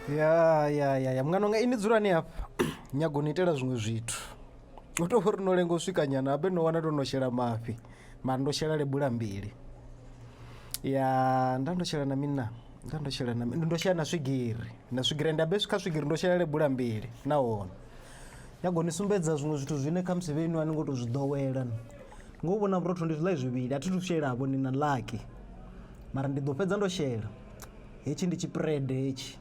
ya ya ya ya mungana unga ini dzulani hafha nyago ni itela zwiṅwe zwithu u tou uri no lenga u swika nyana habe no wana ndo no shela mafhi mara ndo shela lebula mbili ya nda ndo shela na mini na nda ndo shela na mini ndo shela na swigiri na swigiri nda be swika swigiri ndo shela lebula mbili nahone nyago ni sumbedza zwiṅwe zwithu zwine kha musi vhenu a ni ngo tou zwi ḓowela ngo vhona vhurotho ndi zwiḽa zwivhili a thi thu shelavo ni na laki Mara ndi ḓo fhedza ndo shela. Hetshi ndi tshipirede hetshi.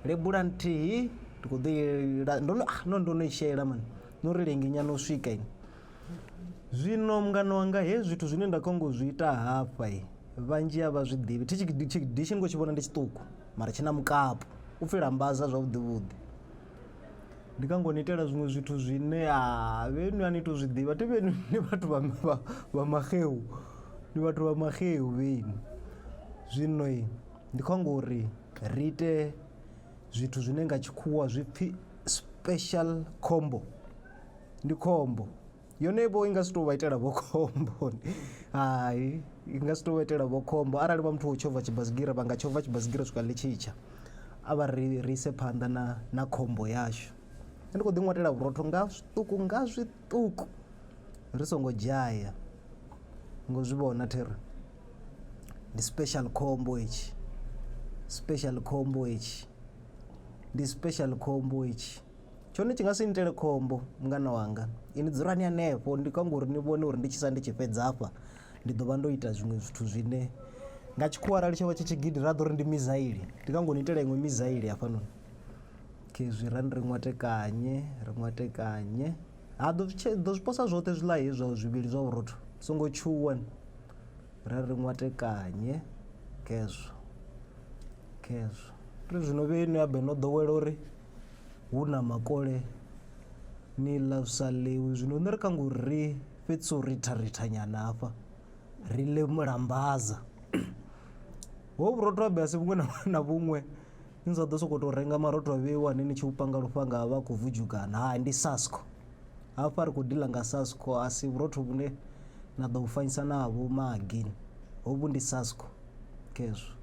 Lebula nthihi ndi khou ḓo yela ndo no ah, no ndo no i shela mani. No ri lengi nyana u swika ini. Zwino mungana wanga hezwi zwithu zwine nda khou ngo zwi ita hafha i vhanzhi a vha zwi ḓivhi. Thi tshi dishi ndi khou tshi vhona ndi tshiṱuku mara tshi na mukapu. U pfi lambaza zwavhuḓi vhuḓi. ndi kha ngo ni itela zwiṅwe zwithu zwine ha vhe nwi a ni to zwi ḓivha thi vhe ni vhathu vha vha maxeu ndi vhathu vha maxeu vheni zwino ndi kho amba uri ri ite zwithu zwine nga tshikhuwa zwipfhi special combo ndi khombo. yone vho i nga si tou vha itela vho khombo hai i nga si tou vha itela vho khombo arali vha muthu wo tshovha tshibasigira vha nga tshovha tshibasigira swika ḽi tshitsha a vha ri ri ise phanḓa na na khombo yashu ndi khou ḓi ṅwatela vhurotho nga zwiṱuku nga zwiṱuku ri songo dzhaya ngo zwi vhona thero ndi special khombo hetshi special khombo hetshi ndi special khombo hetshi tshone tshi nga si nitele khombo mungana wanga ini dzulani hanefho ndi kha ngori ni vhone uri ndi tshi sa ndi tshi fhedza afha ndi ḓo vha ndo ita zwiṅwe zwithu zwine nga tshikhuwa arali tsho vha tshi tshigidi ra ḓo ri ndi mizaili ndi kha ngori ni itela iṅwe mizaili hafhanoni khezwi ra ri ṅwatekanye ri ṅwatekanye ha ḓo zwi posa zwoṱhe zwiḽa hezwa zwivhili zwa vhurotho songo tshuwa ra ri ṅwatekanye khezwo khezwo ri zwino vhe no ya be no ḓowela uri hu na makole ni ḽa zwi sa ḽewi zwino nṋe ri kha ngori ri fhedzisa u ritha rithanyana hafha ri ḽe mulambaza ho vhurotho ha basi vhuṅwe na vhuṅwe ni sa ḓo sokou tou renga marotho a vheiwa ane ni tshi u panga lufhanga a vha a khou vudzhugana hai ndi sasko Hafha ri khou dila nga SASCO a si vhurotho vhune na ḓo vhu fanyisa na vho magini hovhu ndi SASCO khezwo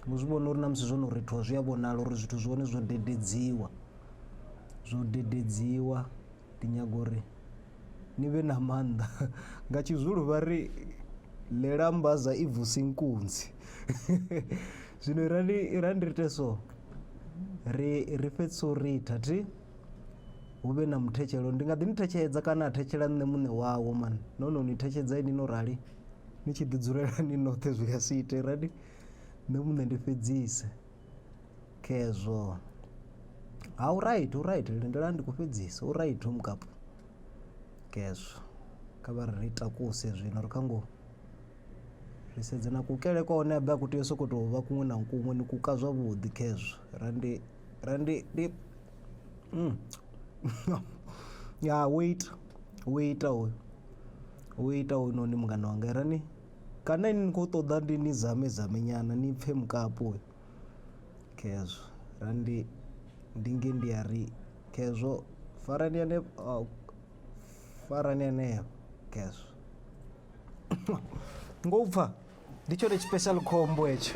ni zwi vhona uri na musi zwo no rithiwa zwi a vhonala uri zwithu zwi hone zwo dededziwa zwo dededziwa ndi nyago uri ni vhe na maanḓa nga tshizulu vha ri ḽela mbaza i vusi nkunzi zwino irani irani ri ite so ri ri fhedzisa u ritha thi hu vhe na muthetshelo ndi nga ḓi ni thetshedza kana a thetshela nṋe muṋe wawo mani no no ni thetshedza ini no rali ni tshi ḓi dzulela ni noṱhe zwi nga si ite rali nṋe muṋe ndi fhedzise khezwo ha u right u right lindela ndi khou fhedzisa u right u mukapu khezwo kha vha ri takuse zwino ri kha ngo ri sedze na kukele kwa hone abe a ku tea u sokou tou vha kuṅwe na kuṅwe ni kuka zwavhuḓi khezwo ra ndi ra ndi ndi ya wo ita wo ita hoyu wo ita hoyunoni mungana wanga i rani kana ini ni khou ṱoḓa ndi ni zame zame nyana ni pfhe mukapu uyu khezwo ra ndi ndi nge ndi a ri khezwo farani ane farani aneo khezwo ngo pfha ndi tshone tshipecial khombo hetsho